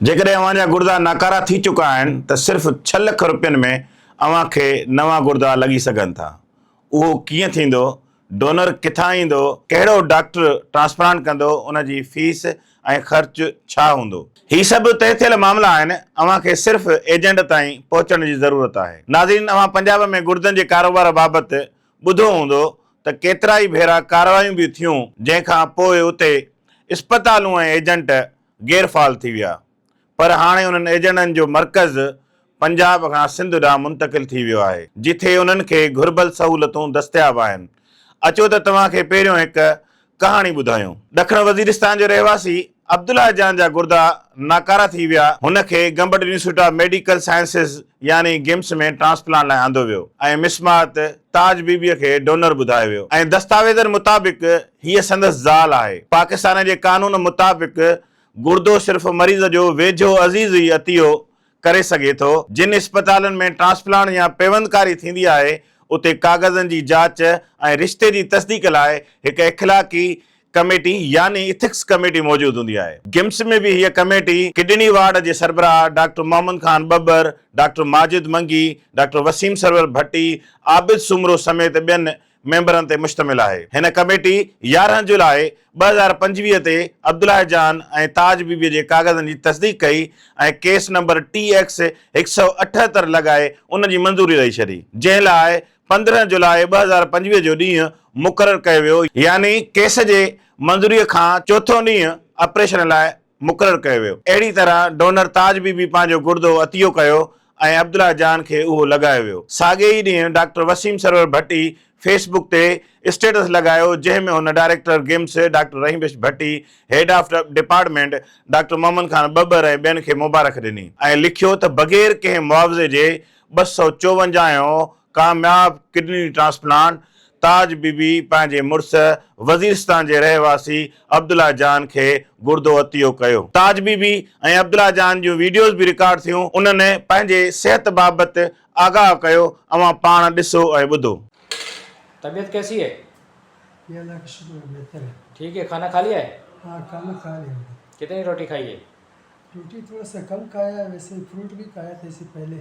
جيڪڏهن اوهان جا گردا ناڪارا ٿي چڪا آهن ته صرف ڇهه لک روپين ۾ اوهان کي نوان گردا لڳي سگهن ٿا. اهو ڪيئن ٿيندو، ڊونر ڪٿان ايندو، ڪهڙو ڊاڪٽر ٽرانسپلانٽ ڪندو ان جي فيس ۽ خرچ ڇا هوندو. هي سڀ طئي ٿيل معاملا آهن اوهان کي صرف ايجنٽ تائين پهچڻ جي ضرورت آهي. ناظرين اوهان پنجاب ۾ گردن جي ڪاروبار بابت ٻڌو هوندو ته ڪيترائي ڀيرا ڪارروايون به ٿيون جنهن کان پوء اتي اسپتالون ۽ ايجنٽ غير فعال ٿي ويا پر هاڻي انهن ايجنڊن جو مرڪز پنجاب کان سنڌ ڏانهن منتقل ٿي ويو آهي جتي انهن کي گهربل سهولتون دستياب آهن اچو ته توهان کي پهريون هڪ ڪهاڻي ٻڌايون. ڏکڻ وزيرستان جو رهواسي عبدالله جان جا گردا ناڪارا ٿي ويا هن کي Gambat institute of medical sciences يعني گمس ۾ ٽرانسپلانٽ لاء آندو ويو ۽ مسمات تاج بي بي کي ڊونر ٻڌايو ويو ۽ دستاويزن مطابق هيء سندس زال آهي. پاڪستان جي قانون مطابق گردو صرف مريض جو ويجهو عزيز ئي عطيو ڪري سگهي ٿو. جن اسپتالن ۾ ٽرانسپلانٽ يا پيوندڪاري ٿيندي آهي، اتي ڪاغذن جي جاچ ۽ رشتي جي تصديق لاء هڪ اخلاقي ڪميٽي يعني اٿڪس ڪميٽي موجود هوندي آهي. گمس ۾ به هيء ڪميٽي ڪڊني وارڊ جي سربراهه doctor Muhammad Khan Babbar, doctor Majid Mangi, doctor Waseem Sarwar Bhatti, Abid Soomro سميت ٻين ميمبرن تي مشتمل آهي. هن ڪميٽي يارهن جولاء ٻه هزار پنجويهه تي عبدالله جان ۽ تاج بيبيء جي ڪاغذن جي تصديق ڪئي ۽ ڪيس نمبر ٽي ايڪس هڪ سؤ اٺهتر لڳائي ان جي منظوري ڏئي ڇڏي، جنهن لاء پندرهن جولاء ٻه هزار پنجويهه جو ڏينهن مقرر ڪيو ويو، يعني ڪيس جي منظوريء کان چوٿون ڏينهن آپريشن لاء مقرر ڪيو ويو. اهڙي طرح ڊونر تاج بي بي پنهنجو گردو عطيو ڪيو ۽ عبدالله جان کي اهو لڳايو ويو. ساڳئي ئي ڏينهن doctor Waseem Sarwar Bhatti Facebook تي اسٽيٽس لڳايو جنهن ۾ هن director GIMS doctor Rahim Bakhsh Bhatti, head of department doctor Muhammad Khan ٻٻر ۽ ٻين کي مبارڪ ڏني ۽ لکيو ته بغير ڪنهن معاوضي جي ٻه سؤ چوونجاهه هون ڪامياب kidney transplant Taj Bibi پنهنجي مڙس وزيرستان جي رهواسي عبدالله جان کي گردو عطيو ڪيو. تاج بي بي ۽ عبدالله جان جون ويڊيوز به رڪارڊ ٿيون، انهن پنهنجي صحت بابت آگاهه ڪيو، اوهان پاڻ ڏسو ۽ ٻڌو. طبيعت ڪيسي هي؟ جي الله ڪا شڪر هي بهتر هي. ٺيڪ هي کانا کاليا هي؟ ها کانا کا ليا هي. ڪتني روٽي کائي هي؟ روٽي ٿوڙا سا ڪم کايا هي ويسي فروٽ بي کايا ٿا اسي پهلي.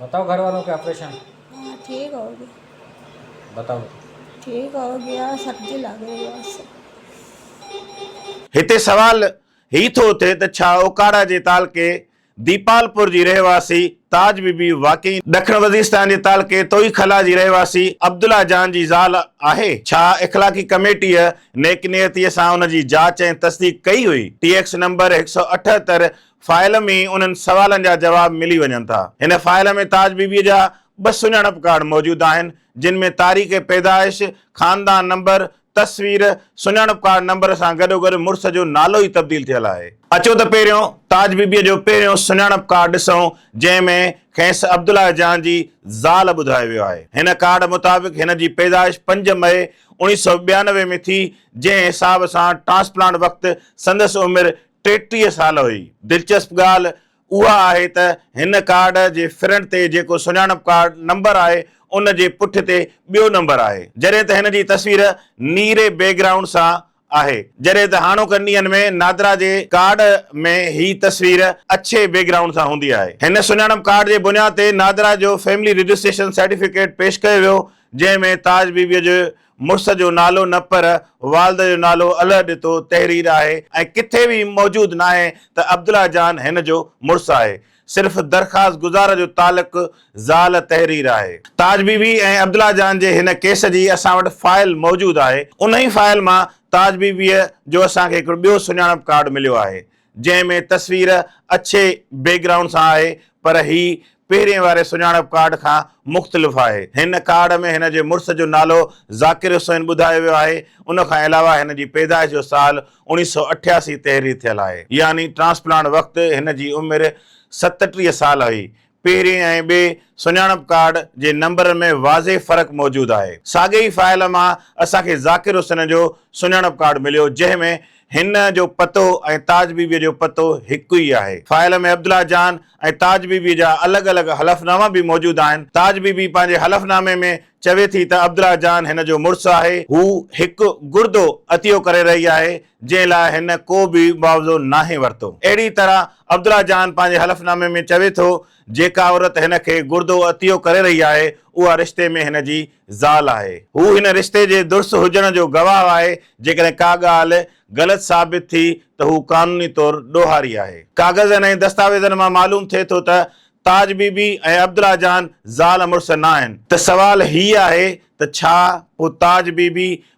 بتائو گهر والون ڪي آپريشن. ھا ٺيڪ ھو گيا. بتائو. ٺيڪ ھو گيا سب جي لاڳي ھئاسين. هتي سوال هي ٿو اٿي ته ڇا اوڪاڙا جي تعلقي ديپالپور جي رهواسي تاج بي بي واقعي ڏکڻ وزيرستان جي تعلقي توئي خلا جي رهواسي عبدالله جان جي زال آهي؟ ڇا اخلاقي ڪميٽيء نيڪ نيتيء سان ان جي جاچ ۽ تصديق ڪئي هئي؟ ٽي ايڪس نمبر هڪ سؤ اٺهتر فائل ۾ انهن سوالن جا جواب ملي وڃن ٿا. هن فائل ۾ تاج بي بيء جا ٻه سڃاڻپ ڪارڊ موجود آهن، جن ۾ تاريخ پيدائش، خاندان نمبر، تصوير، سڃاڻپ ڪارڊ نمبر سان گڏوگڏ مڙس جو نالو ئي تبديل ٿيل آهي. اچو ته پهريون تاج بي بيء جو پهريون سڃاڻپ ڪارڊ ڏسون، جنهن ۾ کيس عبدالله جان جي زال ٻڌايو ويو آهي. هن ڪارڊ مطابق هن جي پيدائش پنج مئي اوڻيهه سؤ ٻيانوي ۾ ٿي، جنهن حساب سان ٽرانسپلانٽ وقت سندس عمر ٽيٽيهه سال هئي. دلچسپ ڳالهه اها آهي ته هن ڪارڊ جي فرنٽ تي جيڪو سڃاڻپ ڪارڊ نمبر آهي ان جي پٺ تي ٻيو نمبر آهي جڏهن ته هن جي تصوير نيري بيڪ گرائونڊ سان آهي جڏهن ته هاڻوڪن ڏينهن ۾ نادرا جي ڪارڊ ۾ هي تصوير اڇي بيڪ گرائونڊ سان هوندي آهي. هن سڃاڻپ ڪارڊ جي بنياد تي نادرا جو فيملي رجسٽريشن سرٽيفڪيٽ پيش ڪيو ويو جنهن ۾ تاج بي بي جي مڙس جو نالو نه پر والده جو نالو الھ ڏتو تحرير آهي ۽ ڪٿي به موجود ناهي ته عبدالله جان هن جو مڙس آهي. صرف درخواست گذار جو تعلق زال تحرير آهي. تاج بي بي ۽ عبدالله جان جي هن ڪيس جي اسان وٽ فائل موجود آهي. انهي فائل مان تاج بي بيء جو اسان کي هڪڙو ٻيو سڃاڻپ ڪارڊ مليو آهي. جنهن ۾ تصوير اڇي بيڪ گرائونڊ سان آهي پر هي پهرين واري سڃاڻپ ڪارڊ کان مختلف آهي. هن ڪارڊ ۾ هن جي مڙس جو نالو ذاڪر حسين ٻڌايو ويو آهي. ان کان علاوه هن جي پيدائش جو سال اوڻيهه سؤ اٺياسي تحرير ٿيل آهي. يعني ٽرانسپلانٽ وقت هن جي عمر ستٽيهه سال هئي. پهرين ۽ ٻئي سڃاڻپ ڪارڊ جي نمبرن ۾ واضح فرق موجود آهي. ساڳئي ئي فائل مان اسان کي ذاڪر حسين جو سڃاڻپ ڪارڊ مليو جنهن ۾ هن جو پتو ۽ تاج بيبيء جو پتو هڪ ئي آهي. فائل ۾ عبدالله جان ۽ تاج بيبيء جا الڳ الڳ حلفناما به موجود آهن. تاج بيبي پنهنجي حلفنامي ۾ چوي ٿي ته عبدالله جان هن جو مڙس آهي. هو هڪ گردو عطيو ڪري رهي آهي جنهن لاء هن ڪو به معاوضو ناهي ورتو. اهڙي طرح عبدالله جان پنهنجي حلف نامي ۾ چوي ٿو، جيڪا عورت هن کي گردو عطيو ڪري رهي آهي، اها رشتي ۾ هن جي زال آهي. هو هن رشتي جي درست هجڻ جو گواهه آهي، جيڪڏهن ڪا ڳالهه غلط ثابت ٿي ته هو قانوني طور ڏوهاري آهي. ڪاغذن ۽ دستاويزن مان معلوم ٿئي ٿو ته تاج بي بي ۽ عبدالله جان زال مڙس ناهن. ته سوال هي آهي ته ڇا پوء تاج بي بي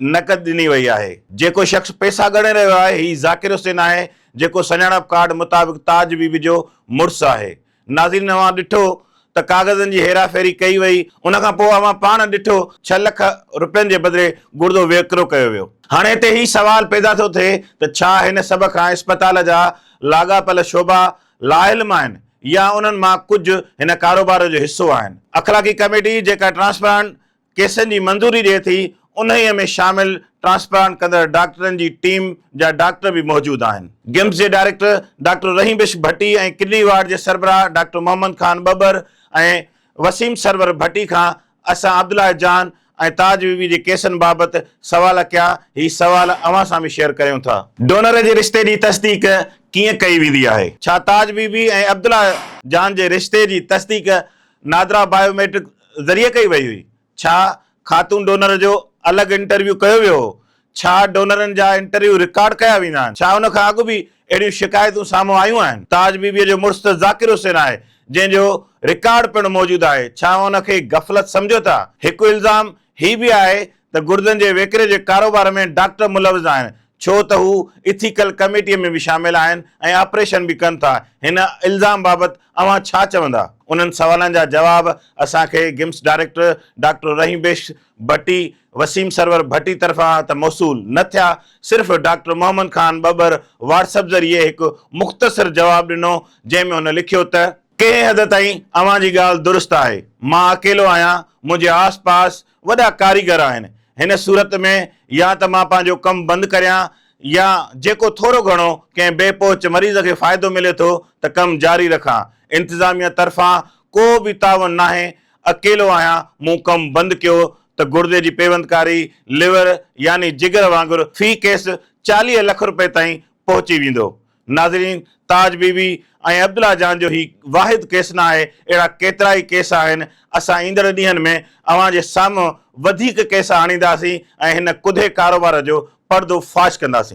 نقد ڏني وئي آهي. جيڪو شخص پئسا ڳڻي رهيو آهي هي ذاڪر حسين آهي جيڪو سڃاڻپ ڪارڊ مطابق تاج بي بي جو مڙس آهي. ناظرين اوهان ڏٺو ته ڪاغذن جي هيرا ڦيري ڪئي وئي ان کان پوء اوهان پاڻ ڏٺو ڇهه لک روپين جي بدلي گڙدو وڪرو ڪيو ويو. هاڻي هتي هي سوال پيدا ٿو ٿئي ته ڇا هن سڀ کان اسپتال جا لاڳاپيل شعبا لاعلم آهن يا انهن مان ڪجهه هن ڪاروبار جو حصو آهن. اخلاقي ڪميٽي جيڪا ٽرانسپرانٽ ڪيسن جي منظوري ڏئي ٿي، انهيء ۾ شامل ٽرانسپلانٽ ڪندڙ ڊاڪٽرن جي ٽيم جا ڊاڪٽر به موجود آهن. گيمس جي director doctor Rahim Bakhsh Bhatti ۽ kidney ward جي سربراهه ڊاڪٽر محمد خان ٻٻر ۽ وسيم سرور ڀٽي کان اسان عبدالله جان ۽ تاج بي بي جي ڪيسن بابت سوال ڪيا، هي سوال اوهان سان به شيئر ڪريون ٿا. ڊونر جي رشتي جي تصديق ڪيئن ڪئي ويندي آهي؟ ڇا تاج بي بي ۽ عبدالله جان جي رشتي جي تصديق نادرا بايو ميٽرڪ ذريعي ڪئي وئي هئي؟ ڇا خاتون ڊونر جو الڳ انٽرويو ڪيو ويو هو؟ ڇا ڊونرن جا انٽرويو رڪارڊ ڪيا ويندا آهن؟ ڇا ان کان اڳ به اهڙيون شڪايتون سامهون آيون آهن؟ تاج بي بيء جو مڙس ته ذاڪر حسين آهي، جنهن جو رڪارڊ پڻ موجود آهي، ڇا اوهان ان کي غفلت سمجهو ٿا؟ هڪ الزام هي به آهي ته گردن جي ويڪري جي ڪاروبار ۾ ڊاڪٽر ملوث آهن ڇو ته هو ايٿيڪل ڪميٽيء ۾ به شامل آهن ۽ آپريشن به ڪن ٿا، هن الزام بابت اوهان ڇا چوندا؟ انهن سوالن جا جواب اسان کي games director doctor Rahim Bakhsh Bhatti, Waseem Sarwar Bhatti طرفان ته موصول نه ٿيا، صرف doctor Muhammad Khan Babar WhatsApp ذريعي هڪ مختصر جواب ڏنو جنهن ۾ هن لکيو ته. ڪنهن حد تائين اوهان جي ڳالهه درست آهي. مان اڪيلو آهيان، منهنجي آس پاس وڏا ڪاريگر آهن. هن صورت ۾ يا ته مان پنهنجو ڪم بند ڪريان يا جيڪو ٿورو گهڻو ڪنهن بي پهچ مريض کي فائدو ملي ٿو ته ڪم جاري رکان. انتظاميه طرفان ڪو به تعاون ناهي. اڪيلو آهيان، مون ڪم بند ڪيو ته گڙدي جي پيوندڪاري، ليور يعني جگر وانگر في ڪيس چاليهه لک روپيه تائين پهچي ويندو. ناظرين تاج بي بي ۽ عبدالله جان جو هي واحد ڪيس نه آهي اهڙا ڪيترائي ڪيس آهن اسان ايندڙ ڏينهن ۾ اوهان جي سامهون وڌيڪ ڪيس آڻينداسين ۽ هن ڪڌي ڪاروبار جو پڙدو فاش ڪنداسين.